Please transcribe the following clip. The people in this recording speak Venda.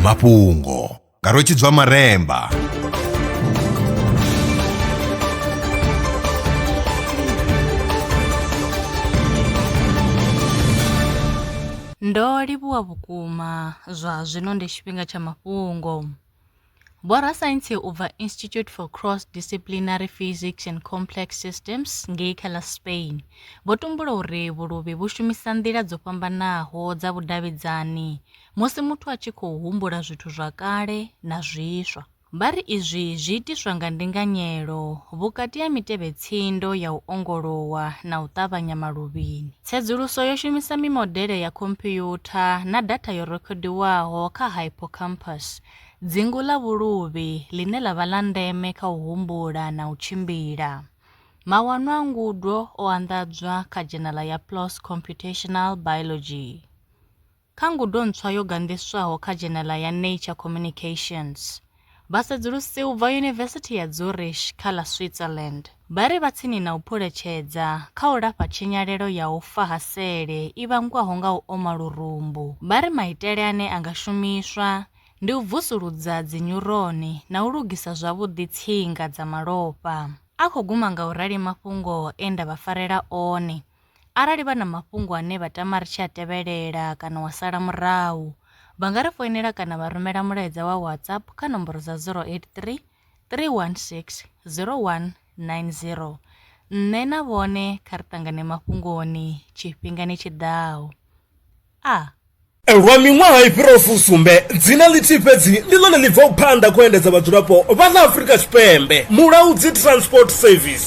mafhungo nga rwetshidzwa maremba Ndo livhuwa vhukuma, zwa zwino ndi tshifhinga tsha mafhungo. Vhorasaintsi u bva Institute for Cross-Disciplinary Physics and Complex Systems ngei kha ḽa Spain vho tumbula uri vhuluvhi vhu shumisa nḓila dzo fhambanaho dza vhudavhidzani musi muthu a tshi khou humbula zwithu zwa kale na zwiswa. Vha ri izwi zwi itiswa nga ndinganyelo vhukati ha mitevhe-tsindo ya u ongolowa na u ṱavhanya maluvhini. Tsedzuluso yo shumisa mimodele ya khompuyutha na datha yo rekhodiwaho kha hippocampus Dzingu ḽa vhuluvhi, ḽine ḽa vha ḽa ndeme kha u humbula na u tshimbila. Mawanwa a ngudo o anḓadzwa kha dzhenala ya PLOS Computational Biology. Kha ngudo ntswa yo ganḓiswaho kha dzhenala ya Nature Communications, vhasedzulusi u bva Yunivesithi ya Zurich kha ḽa Switzerland, Vha ri vha tsini na u phuletshedza kha u lafha tshinyalelo ya u fa ha sele i vhangwaho nga u oma lurumbu. Vha ri maitele ane a nga shumiswa ndi u vusuludza dzinyuroni na u lugisa zwavhuḓi tsinga dza malofha. A khou guma nga u rali mafhungo e nda vha farela one. Arali vha na mafhungo ane vha tama ri tshi a tevhelela kana wa sala murahu, vha nga ri foinela kana vha rumela mulaedza wa WhatsApp kha nomboro dza 083 316-0190. Nṋe na vhone kha ri ṱangane mafhungoni tshifhingani tshi ḓaho. A. Lwa miṅwaha i fhiraho fusumbe, dzina ḽithihi fhedzi ndi ḽone ḽi bvaho phanḓa kha u endedza vhadzulapo vha ḽa Afrika Tshipembe, Mulaudzi Transport Service.